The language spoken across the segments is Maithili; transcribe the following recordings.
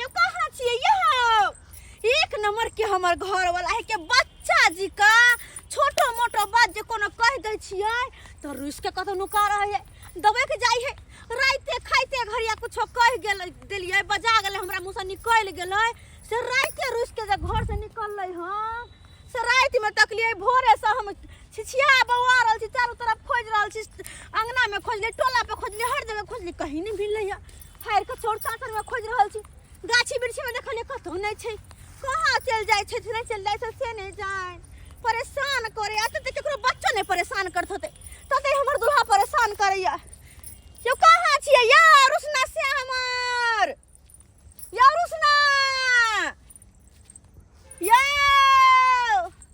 ये कहना छिए यहो एक नंबर के हमर घर वाला है के बच्चा जी का छोटो मोटो बात जे कोनो कह दे छिए तो रुस के कतो नुका रहे है दबे के जाई है राइते खाइते घरिया कुछो कह गेल देलिए बजा गेले हमरा मुंह से निकल गेले से राइते रुस के जे घर से निकलले हां से रात में तकलिए भोरे से हम छिछिया बौआ रहल छी चारू तरफ खोज रहल छी अंगना में खोजली टोला पे खोजली हर जगह खोजली कहीं नहीं मिलले है फाड़ि कऽ चोर चाँचरमे खोजि रहल छी गाछी वृक्षमे देखलिए कतहु नहि छै कहाँ चलि जाइ छै नहि चलि जाइ छै से नहि जाए परेशान करे एते तऽ ककरो बच्चो नहि परेशान करत होतै तते हमर दूल्हा परेशान करैए यौ कहाँ छियै यौ रुसना से हमर यौ रुसना यौ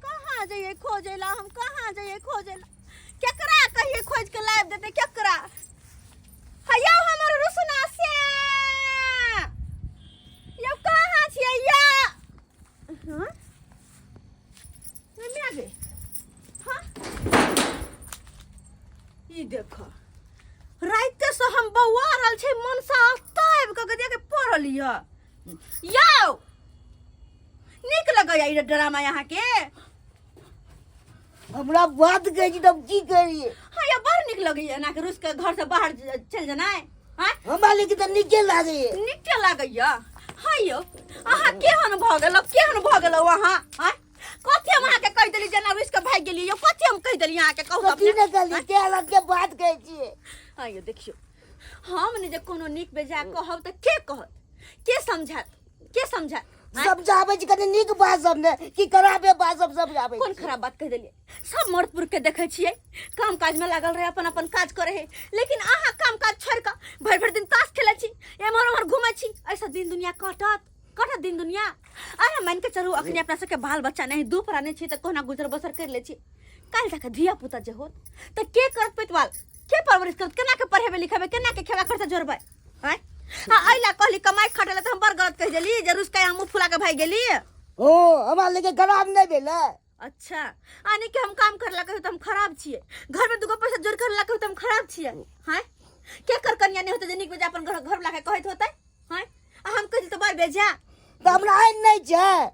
कहाँ जइयै खोजै लए हम कहाँ जइयै खोजै लए केकरा कहिए खोज के लाइव देते केकरा हयो हमर रुसना से यो कहाँ छियै या हाँ मम्मी आ गई हाँ ई देखो राइते से हम बौआ रहल छै मन से आस्था आबि कऽ देख पढ़ल यऽ यौ नीक लगैया ई ड्रामा अहाँके हमरा बात कहै छी तब की करिए हाँ या बड़ निक लगे है ना कि रुस के घर से बाहर ज- चल जाना है हाँ हमरा लेके तऽ नीके लागैए निके लगे या हाँ यो अहाँ केहन भऽ गेल केहन भऽ गेल अहाँ हाँ कथी हम अहाँके कहि देली जेना रुस के भागि गेली यो कथी हम कहि देली अहाँके कहू कथी अपने ने कहली के अलग के बात कहै छियै हाँ यो देखियो हम ने जे कोनो निक बेजा कहब तऽ के कहत के समझत के समझा सब जाबे छी कनी नीक बात सब ने कि खराबे बात सब सब जाबे कोन खराब बात कह देलिए सब मर्द पुरुष के देखे छिए काम काज में लागल रहे अपन अपन काज करे है लेकिन आहा काम काज छोड़ के भर भर दिन ताश खेले छी एमहर ओमहर घूमे छी ऐसा दिन दुनिया कटत कटत दिन दुनिया अरे मान के चलू अखनी अपना सबके बाल बच्चा नहीं दू प्राणी छी त कोना गुजर बसर कर ले छी काल तक धिया पुता जे होत त के करत पेटवाल के परवरिश करत केना के पढ़ेबे लिखेबे केना के खेबा खर्चा जोड़बे हैं? हाँ अइला कहली कमाई खटेला तो हम बड़ गलत कह देली जे रुस के हमू फुला के भाई गेली ओ हमार लेके खराब नहीं भेले अच्छा आने के हम काम करला कहियो तो हम खराब छिए घर में दुगो पैसा जोड़ करला कहियो तो हम खराब छिए हैं के कर कन्या नहीं होते जे निक बजा अपन घर घर लाके कहत होते हैं आ हम कहिल तो बड़ बेजा तो हमरा आइन नहीं छै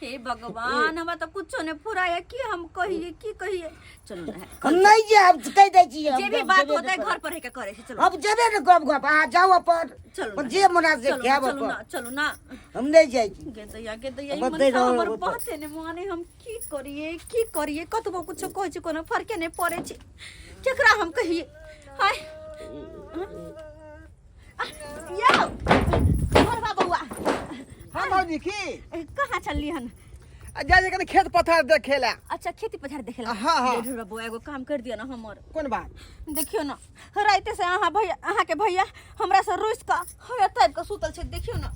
हे भगवान हमरा तो कुछो ने फुराया की हम कहिए की कहिए चलो ना हम नहीं जे अब कह दे छी हम जे भी जब बात जेबे होता है न घर पर है के करे से करब। चलो अब जेबे न गप गप आ जाओ अपन चलो अपन ना, जे मना से चलो ना, खाब चलो अपन ना चलो ना हम नहीं जाई छी गे दैया गे दैया ई अब मन दे रहो, हमर अब अपन। बाते ने माने हम की करिए की करिए कतबो कुछो कहै छी कोनो फरके ने पड़े छै केकरा हम कहिए हाय यौ हमर बा बौआ हम भौजी की ए, कहाँ छलियै हन आ जा जे कनी खेत पथार देखे ला अच्छा खेती पथार देखे ला हाँ, हाँ। ढेर बौआ एगो काम कर दिया ना हमर कोन बात देखियो ना राइते से अहाँ भैया अहाँ के भैया हमरा से रुस का हवे तब के सुतल छै देखियो ना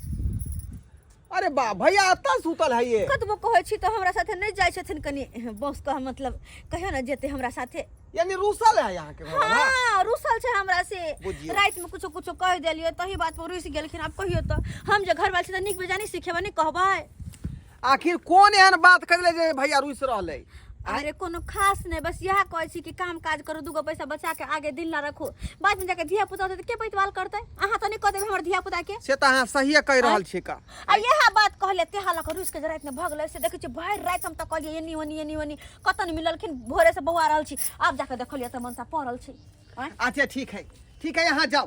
अरे बा भैया अत्ता सुतल है ये कतबो कहै छी तऽ हमरा साथे नहि जाइ छथिन कनि बस कह मतलब कहियो ने जेते हमरा साथे यानी रूसल है यहाँ के भैया ना? हाँ रुसल छै हमरा से बुझियौ। रात में कुछो कुछो कह देलियो तही बात पर रुस गेलखिन आब कहियो तऽ हम जे घर वाली छी तऽ नीक बेजानी सिखेबै नहि कहबै आखिर कौन एहन बात कर ले जे भैया रुस रहले अरे कोनो खास नहीं बस यह कहे छी कि काम काज करू दूगो पैसा बचा के आगे दिन ला रखू बाद में जाके धिया पुता होते तो के पैतवाल करते अहाँ तो नहीं कह देबे हमर धिया पुता के से तऽ अहाँ सहिए कहि रहल छी का आ यह बात कहले ते हाल कर उसके रात में भगले से देखे छी भरि रात हम त कहलिए एनी ओनी एनी ओनी कतन मिललखिन भोरे से बौआ रहल छी अब जाके देखलिए त मन त पड़ल छी आँय? अच्छा ठीक है ठीक है अहाँ जाउ